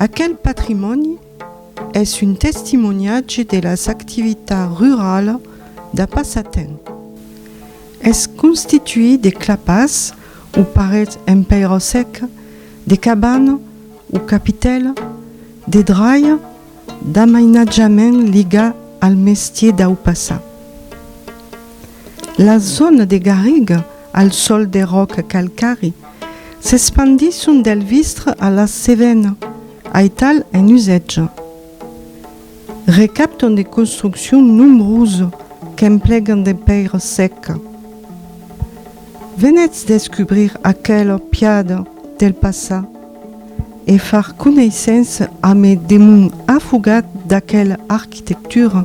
Aquel patrimòni es un testimoniatge de las activitats ruralas d'a passatemps. Es constituit de clapas o parets en pèira seca, de cabanas o capitèlas, de dralha, d'amainatjament ligat al mestier dau passat. La zòna de Garriga, al sòl de ròc calcari, s'espandisson del Vistre a la Cevena, aital en usatge. Recaptan de construccion nombrose qu'emplegan de pèira seca. Venètz descubrir aquela piada del passat e far coneissença amé de mon afogat d'aquela arquitectura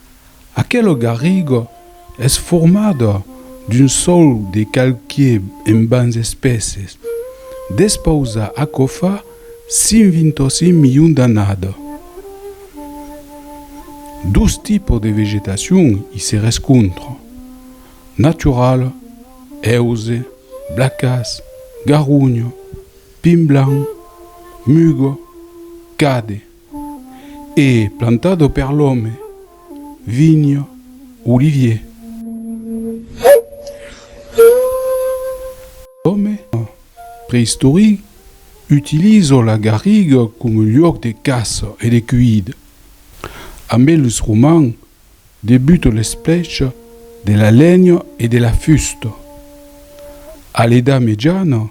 Aquelo garrigo es formado d'un sòl de calquiè en bans espèses. Despausa aquò fa 128 milions d'annada, dos tipos de vegetacion i se rescontran, naturala, hèuse, blacàs, garronha, pin blanc, muga, cade. E plantado per l'òme, vinho, olivier. L'òme preistoric utilizo la garriga coma luòc de caça e de cuida. Ambe los romans debuta l'esplècha de la lenha e de la fusta. A l'Edat Mejana,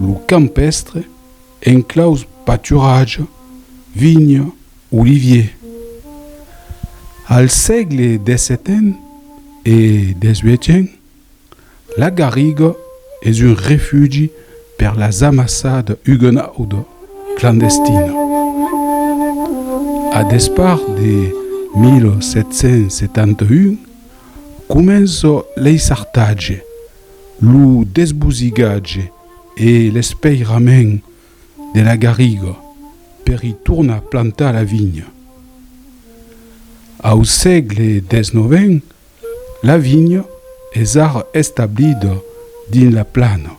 Lo campèstre enclaus paturatge, vinha, olivier. Al sègle xvii e xviii, la garriga es un refugi per las amassada uguenauda clandestina. A despart de 1771, comença l'eissartatge. lo desbosigatge e l'espeirament de la garriga per i tornar plantar la vinha. Au sègle xix, la vinha es ara establida dins la plana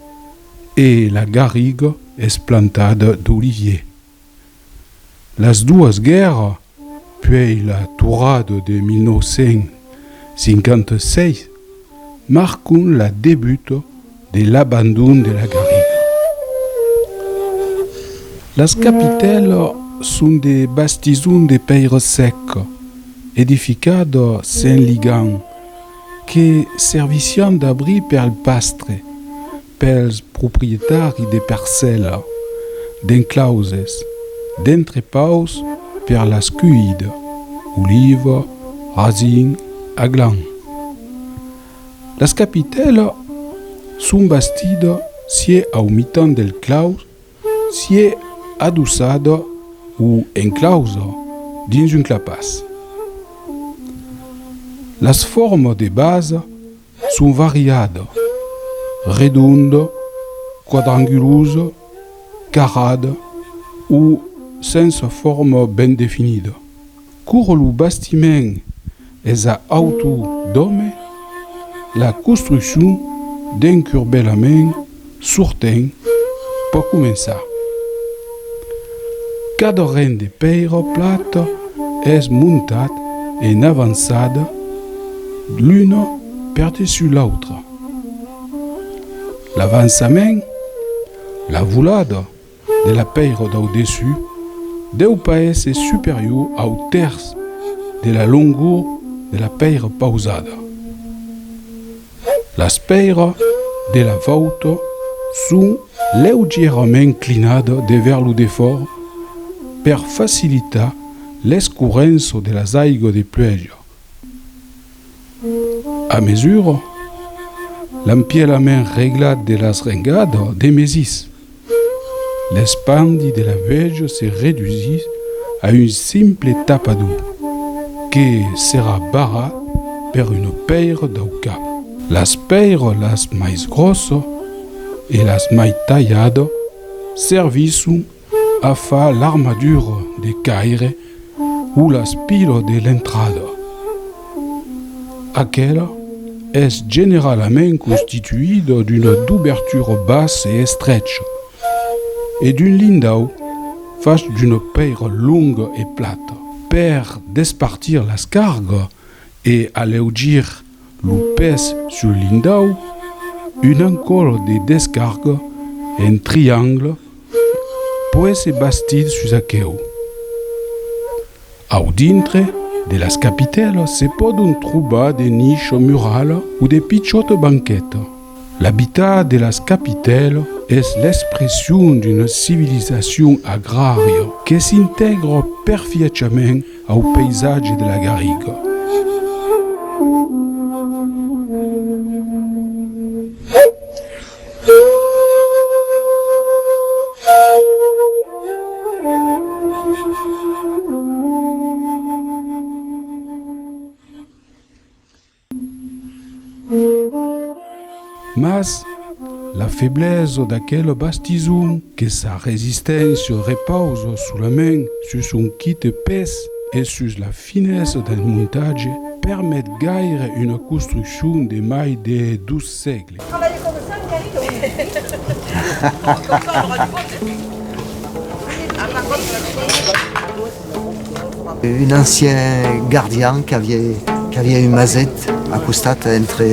e la garriga es plantada d'olivier. Las doas guèrra, puèi la Torrada de 1956, marcon la debuta de l'abandon de la garriga. Las capitèla son de bastison de pèira sèca, edificada sen ligan, que servissián d'abri per al pastre. pels proprietari de parcèla, d'enclauses, d'entrepaus per las cuida, oliva, rasin, aglan. Las capitèla son bastida sié au mitan del claus sié adossada o enclausa dins un clapàs. Las forma de basa Son variat, redond, quadrangulós, carrat o sens forma ben definida. Coma lo bastiment es a autor d'òme, la construccion d'encurbelament Surten, pòt començar. Cada ren de pèira plata es montat en avançada l'una perdessus l'autra. L'avançament, la volada. de la pèira dau dessus deu pas èsser superior au tèrç de la longor de la pèira pausada. Las pèira de la vòuta son leugièrament clinada devèr lo defòrt per facilitar l'escurrença de las aigas de pluèja. A mesura, l'empielament reglat de las rengadas demesís. L'espandi de la vèja se redusís a un simple tapador que serà barrat per una pèira dau cap. Las pèirolas mai gròssa e las mai talhada servisson a far l'armadura de caire O l'aspira de l'entrada. Aquela es generalament constituida d'una dobertura bas e estrecha e d'un lindau fach d'una pèira longa e plata. Per despartir las cargas e aleugir lo pes sul lindau, un ancòl de descarga en triangle puèi se bastit sus aqueu. Au dintre de las capitèlas se pòdon trobar de nicha murala o de pichòta banqueta. L'Abitat de las Capitèlas es l'expression d'una civilizacion agrària que s'intègra perfièchament au païsatge de la garriga. Mas la feblesa d'aquela bastison, que sa resisténcia repausa solament sus son quite pes e sus la finesa del montatge, permet gaire una construccion de mai de 200 sègle. Un ancien gardian qu'aviá un maset a costat entre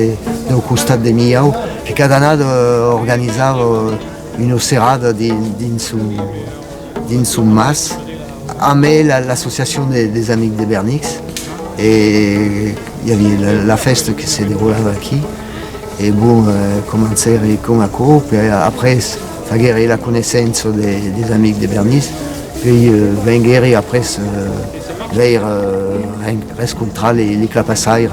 deu costat de Milhau que cada annada organizava una serada dins son Dins son mas, amb l'associacion des Amics de Bernix, i aviá la fèsta que se deroulava aquí. E bon, comencèri con aquò, per après faguèri la coneissença des Amics de Bernix, puèi venguèri après veire, rescontrar li clapasaire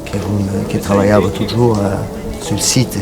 que trabalhava totjorn sul site.